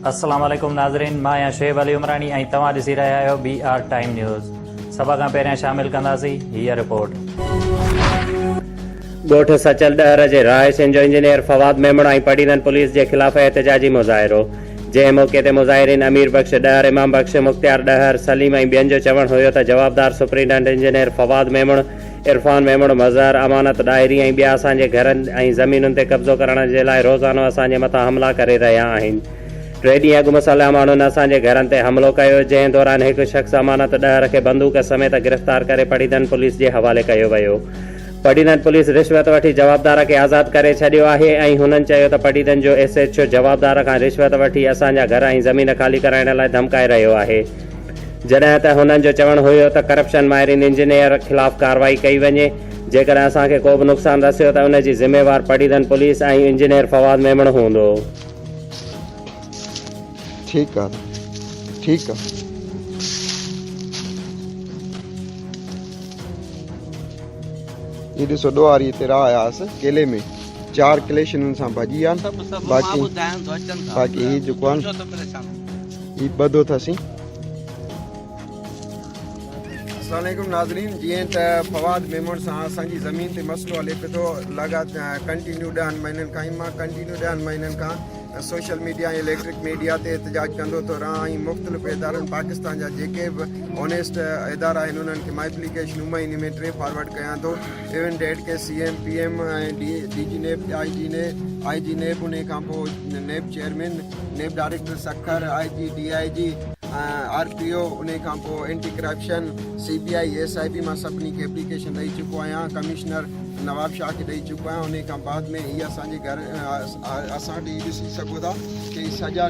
السلام عليڪم ناظرين مان آهيان شعيب علي عمراڻي ۽ توهان ڏسي رهيا آهيو بي آر ٽائيم نيوز سڀ کان پهريان شامل ڪنداسين هيء رپورٽ ڳوٺ سچل ڏهر جي رهائشين جو انجنيئر فواد ميمڻ ۽ پڊيرن پوليس جي خلاف احتجاجي مظاهرو جنهن موقعي تي مظاهرين امير بخش ڏهر امام بخش مختيار ڏهر سليم ۽ ٻين جو چوڻ هيو ته جوابدار سپرنٽنڊنٽ انجنيئر فواد ميمڻ عرفان ميمڻ، مظهر، امانت ڏاهري ۽ ٻيا اسان جي گهرن ۽ زمينن تي قبضو ڪرڻ جي لاء روزانو اسان جي مٿان حملا ڪري رهيا آهن. ٽي ڏينهن اڳ مسلح ماڻهن اسان جي گهرن تي حملو ڪيو، جنهن دوران هڪ شخص امانت ڏهر کي بندوق سميت گرفتار ڪري پڊيدن پوليس جي حوالي ڪيو ويو. پڊيدن پوليس رشوت وٺي جوابدار کي آزاد ڪري ڇڏيو آهي ۽ هنن چيو ته پڊيدن جو ايس ايڇ او جوابدار کان رشوت وٺي اسان جا گهر ۽ زمين خالي ڪرائڻ لاء ڌمڪائي رهيو آهي. جڏهن ته هنن جو چوڻ هيو ته ڪرپشن ماهرين انجنيئر خلاف ڪارروائي ڪئي وڃي، جيڪڏهن اسان کي ڪو به نقصان رسيو ته ان جي ذميوار پڊيدن پوليس ۽ انجنيئر فواد ميمڻ هوندو. ٺيڪ آ نه ٺيڪ آ. هي ڏسو ڏوهاري هتي راهه آياس ڪيلي ۾ چار ڪليش هنن سان ڀڄي ويا آهن باقي باقي هي جيڪو آهن هي ٻڌو ٿا سين. السلام عليڪم ناظرين جيئن ته فواد ميمڻ سان اسان جي زمين تي مسئلو هلي پيو ٿو لڳات ڪنٽينيو ڏهن مهينن کان مان ڪنٽينيو ڏهن مهينن کان سوشل ميڊيا ۽ اليڪٽرڪ ميڊيا تي احتجاج ڪندو ٿو رهان ۽ مختلف ادارن پاڪستان جا جيڪي به اونيسٽ ادارا آهن انهن کي ماء اپليڪيشن هو مهيني ۾ ٽي فارورڊ ڪيان ٿو ايون ڊيٽ کي C M P M ۽ D G NAB I G NAB I G NAB ان کان پوء NAB chairman NAB director Sukkur, I G, D I G, R P O, انهي کان پوء anti corruption, C B I, S I B مان سڀني کي application ڏئي چڪو آهيان، ڪمشنر نواب شاهه کي ڏئي چڪو آهيان، انهي کان بعد ۾ هي اسان جي گهر اسان وٽ هي ڏسي سگهو ٿا ته هي سڄا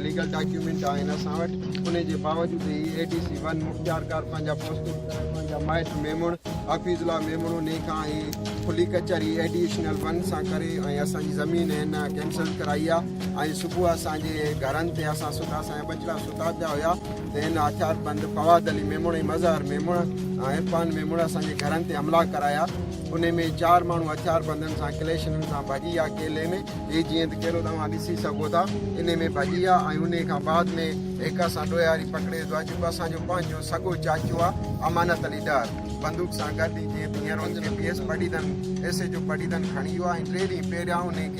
ليگل ڊاڪيومينٽ آهن اسان وٽ، انهي جي باوجود هي اي ڊي سي ون مختيار ڪار پنهنجا پوسٽنگ ڪرائي پنهنجا مائٽ ميمڻ حفيظ الله ميمڻ انهي کان هي کلي ڪچهري ايڊيشنل ون سان ڪري ۽ اسان جي زمين هن ڪينسل ڪرائي آهي. ۽ صبح اسان جي گهرن تي اسان ستا اسان جا ٻچڙا ستا پيا هيا ته هن هٿيار بند فواد علي ميمڻ ۽ مظهر ميمڻ ۽ عرفان ميمڻ اسان جي گهرن تي حملا ڪرايا انهي ۾ چار ماڻهو هٿيار بندن سان ڪليشنن سان ڀڄي ويا ڪيلي ۾ هي جيئن ته ڪيلو توهان ڏسي سگهو ٿا انهي ۾ ڀڄي ويا ۽ انهي کان بعد ۾ هڪ اسان ڏوهياري پڪڙي ويو آهي جيڪو اسان جو پنهنجو سڳو چاچو آهي امانت علي ڏهر بندوق سان گڏ جيئن ته هينئر ان کي P S Padidan S H O Padidan کڻي ويو آهي ۽ ٽي ڏينهن پهريان انهي کي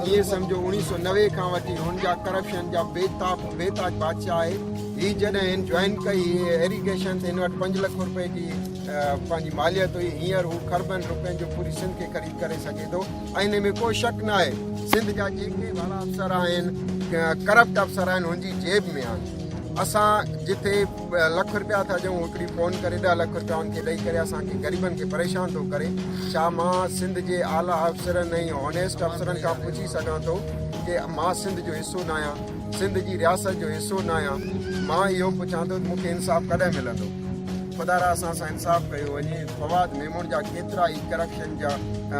ائين سمجهو اوڻيهه سؤ نوي کان وٺي هن جا ڪرپشن جا بيتاب بيتاج بادشاهه آهي هي جڏهن هن جوائن ڪئي ايريگيشن تي هن وٽ پنج لک روپئي جي پنهنجي ماليت هئي هينئر هو خربن روپين جو پوري سنڌ کي خريد ڪري سگهي ٿو ۽ هن ۾ ڪو شڪ ناهي سنڌ جا جيڪي وڏا افسر آهن ڪرپٽ افسر آهن هن جي جيب ۾ آهن اسان جتي لک رپيا ٿا ڏيون هڪڙي فون ڪري ڏهه لک رپيا ان کي ڏئي ڪري اسان کي غريبن کي پريشان ٿو ڪري ڇا مان سنڌ جي اعليٰ افسرن ۽ هونيسٽ افسرن کان پڇي سگهان ٿو ڪي مان سنڌ جو حصو ناهيان سنڌ جي رياست جو حصو ناهيان مان اهو پڇان ٿو ته مون کي انصاف ڪڏهن ملندو خدا را اسان سان انصاف ڪيو وڃي فواد ميمڻ جا ڪيترا ئي ڪرپشن جا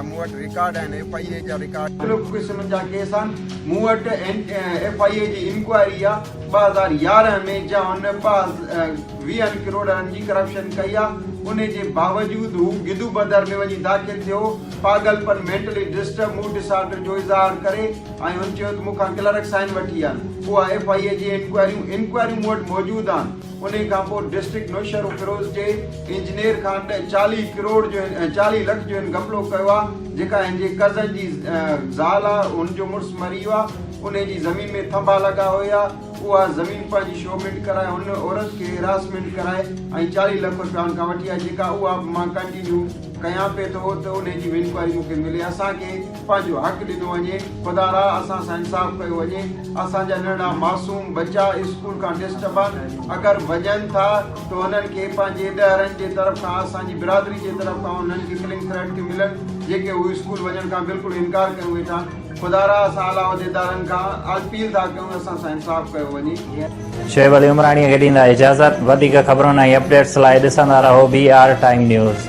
مون وٽ رڪارڊ آهن ايف آئي اي جا رڪارڊ مختلف قسم جا ڪيس آهن مون وٽ ايف آئي اي جي انڪوائري آهي ٻه هزار يارهن ۾ جا هن پاس ويهن ڪروڙن جي ڪرپشن ڪئي آ انهي جي باوجود هو گدو بدر ۾ وڃي داخل ٿيو پاڳل پن مينٽلي ڊسٽرب موڊ ڊسارڊر جو اظهار ڪري ۽ هن چيو ته مون کان ڪلرڪ سائن وٺي آن اها ايف آء اي جي انڪوائريون انڪوائريون مون وٽ موجود آن انهي کان پوء ڊسٽرڪٽ نوشهروفيروز جي انجنيئر کان ڏهه چاليهه ڪروڙ جو هن چاليهه لک جو هن گپلو ڪيو آ جيڪا هن جي ڪزن جي زال آ هن جو مڙس مري ويو آ انهي جي زمين ۾ ٿنڀا لڳا هئي آ اها زمين پنهنجي شومينٽ ڪرائي هن عورت کي هراسمينٽ ڪرائي ۽ چاليهه لک روپيا هن کان وٺي آ جيڪا اها به مان ڪنٽينيو ڪيان پي ٿو ته انهي جي به انڪوائري مون کي ملي اسان کي پنهنجو حق ڏنو وڃي خدا را اسان سان انصاف ڪيو وڃي اسان جا ننڍڙا معصوم ٻچا اسڪول کان ڊسٽبان اگر وڃن ٿا ته انهن کي پنهنجي ڏهرن جي طرف کان اسان جي برادري جي طرف کان انهن کي ڪلنگ ٿريٽ ٿيون ملن جيڪي هو اسڪول وڃڻ کان بلڪل انڪار ڪيون ويٺا خدا را اسان اعليٰ عهديدارن کان الپيل ٿا ڪيون اسان سان انصاف ڪيو وڃي. شعيب علي عمراڻي کي ڏيندا اجازت. وڌيڪ خبرن ۽ اپڊيٽس لاء ڏسندا رهو بي آر ٽائيم نيوز.